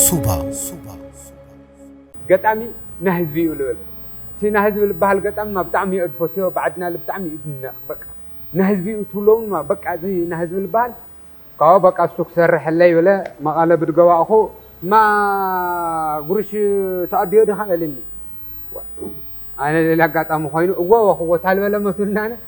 ሱባ ገጣሚ ናህዝቢ እዩ ልብል እቲ ናህዝቢ ልባሃል ገጣሚ እማ ብጣዕሚ እየ ድፎትዮ ብዓድና ል ብጣዕሚ እዩ ድነቅ በቃ ናህዝቢ እዩ ትብሎ እውን እማ በቃ እዚ ናህዝቢ ልባሃል ካብኡ በቃ እሱ ክሰርሐለይ በለ መቀለ ብድገባእኹ እማ ጉርሽ ተቀድዮ ዲኻ በለኒ ዋእ ኣነ ሌላ ኣጋጣሚ ኾይኑ እወ ወክዎ ታልበለ መሱልናነ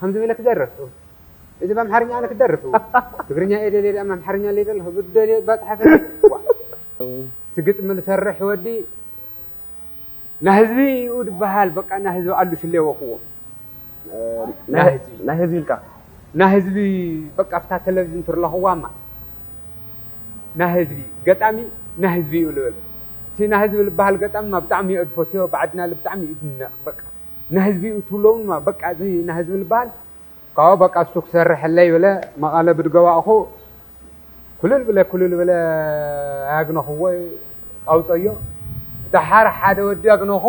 ከምዚ ኢለ ክደርፍ እው እዚ ብኣምሓርኛ ኣነ ክደርፍ እው ትግርኛ እየ ደልየ ድኣም ኣምሓርኛ ኣለይ ዘለኹ ብደልዮ እባ ፅሓፈለይ ዋእ እቲ ግጥሚ ልሰርሕ ወዲ ናህዝቢ እዩ ድበሃል በቃ ናህዝቢ ኣሉ ሽሌወክዎ ናህዝቢ ናህዝቢ ኢልካ ናህዝቢ በቃ ኣብታ ተለቭዥን ትርለኽዋማ ናህዝቢ ገጣሚ ናህዝቢ እዩ ልብል እቲ ናህዝቢ ልበሃል ገጣሚ ብጣዕሚ እየ ድፈትዮ ብዓድና ልብጣዕሚ እዩ ድነቅ በቃ ናህዝቢ እዩ ትብሎም ድማ በቃ እዚ ናህዝቢ ልባሃል ካብኡ በቃ እሱ ክሰርሐለይ ብለ መቀለ ብድገባእኹ ኩልል ብለ ኩልል ብለ ኣያግነኹዎ ኣውፀዮ ዳሓር ሓደ ወዲ ኣግነኹ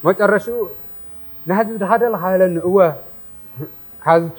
መጨረሽኡ ናህዝቢ ድኻ ደለኻ በለኒ እወ ካዝቱ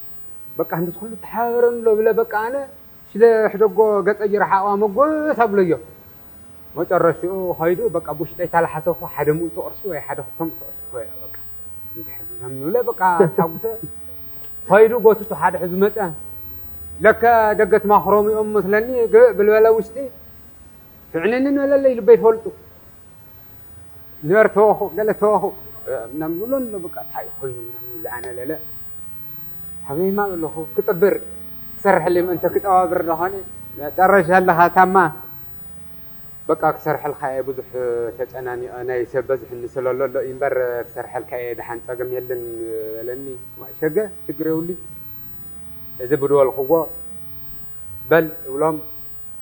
በቃ ክንድዚ ኩሉ ተሓባበረኒ ኣሎ ብለ በቃ ኣነ ስለ ሕደጎ ገጸ ጅርሓቅዋ መጎስ ኣብለዮ መጨረሽኡ ከይዱ በቃ ብውሽጠይ ታላሓሰብኩ ሓደ ምእቲ ቅርሺ ወይ ሓደ ክልተ ምእቲ ቅርሺ ኮይና በቃ እንድሕር ምናምን ብለ በቃ ተሓጉሰ ከይዱ ጎትቱ ሓደ ሕዙ መጸ ለከ ደገት ማክሮም እዮም መስለኒ ግእ ብልበለ ውሽጢ ትዕንንን መለለይ ልበይ ፈልጡ ንበር ተወኹ ገለ ተወኹ ምናምን ዝብሎ ኣሎ በቃ እንታይ ኮይኑ ምናምን ይብለ ኣነ ለለ ሓበይማ በለኹ ክጥብር ክሰርሐለይ ምእንተ ክጠባብር ደኾነ መጨረሻ ኣለኻ ታማ በቃ ክሰርሐልካ እየ ብዙሕ ተጨናኒቐ ናይ ሰብ በዝሕኒ ስለሎ ኣሎ እምበር ክሰርሐልካ እየ ደሓን ፀገም የለን በለኒ ዋይ ሸገ ሽግር የብሉይ እዚ ብድወልክዎ በል እብሎም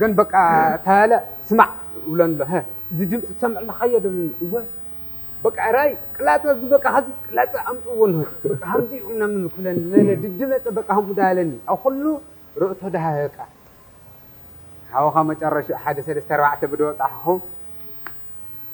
ግን በቃ ታያለ ስማዕ እብለን ኣሎ ሀ። እዚ ድምፂ ክሰምዕ ኣለካ እየ ደብለኒ እወ በቃ እራይ ቅላፀ እዚ በቃ ሀዚ ቅላፀ ኣምፅእዎ እንሆ በቃ ሀምዚ እዩ ምናምን ክብለኒ ለለ ድዲ መፀ በቃ ሀምኡ ዳበለኒ ኣብ ኹሉ ርእቶ ዳሃበቃ ሀበኻ መጨረሽኡ ሀደ ሰለስተ ኣርባዕተ ብደወፃሕኹ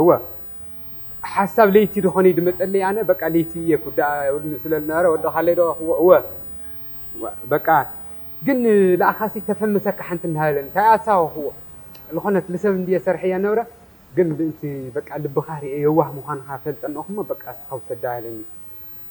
እወ ሓሳብ ለይቲ ዶ ኾነይ ድመጸለይ ኣነ በቃ ለይቲ እየ ኩዳኣ እብሉኒ ስለ ልነበረ ወድኻለይ ዶ እወ እወ በቃ ግን ልኣኻሲ ተፈምሰካ ሓንቲ እናበለ እንታይ ኣሳወኽዎ ልኾነት ልሰብ እንድየ ሰርሐያ ነብረ ግን ምእንቲ በቃ ልብኻ ርእየ የዋህ ምዃንኻ ፈልጠ እነኹሞ በቃ እስኻ ውሰዳ በለኒ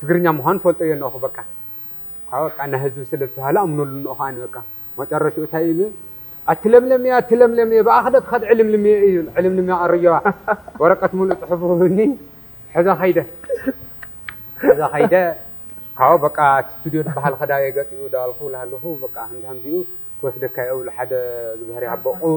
ትግርኛ ምዃኑ ፈልጦ እየ እንኦኹ በቃ እኳ በቃ ናይ ህዝቢ ስለ ዝተባህለ ኣምነሉ እንኦ ከኣኒ በቃ መጨረሽኡ ታይ እዩ ዝብል ኣትለምለምየ ኣትለምለምየ ብኣኺ ዶ ትኸድ ዕልምልምየ እዩ ዝብል ዕልምልምየ ኣረየዋ ወረቀት ሙሉእ ፅሑፉ ሂብኒ ሕዘ ከይደ ሕዘ ከይደ ካብኡ በቃ እቲ ስቱድዮ ዝበሃል ኸዳ እየ ገጢኡ ዳበልኩ ላሃለኹ በቃ ሃምዚ ሃምዚኡ ክወስደካ እየ እብሉ ሓደ ዝብሀር ይሃቦ ቁቡዕ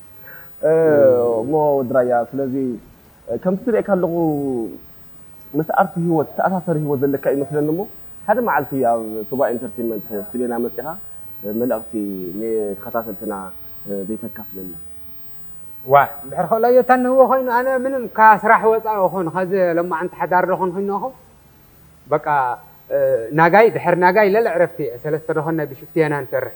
እሞ ወዲ ራያ ስለዚ ከምቲ ዝርኤካ ኣለኹ ምስ ኣርት ሂወት ዝተኣሳሰር ሂወት ዘለካ ይመስለኒ እሞ ሓደ መዓልቲ ኣብ ቶጋ ኢንተርቴመንት ስቲቤና መጺኻ መልእኽቲ ንተኸታተልትና ዘይተካፍለና። ዋእ እንድሕር ኸእሎዮ ተንህዎ ኾይኑ ኣነ ምንም ካብ ስራሕ ወጻኢ ኹን ኸዚ ሎማዓንቲ ሓዳር ዶ ኹን ኹነኹ በቃ ናጋይ ድሕር ናጋይ ለለ ዕረፍቲ እየ ሰለስተ ዶ ኹን ናይ ብሽፍቲ የና ንሰርሕ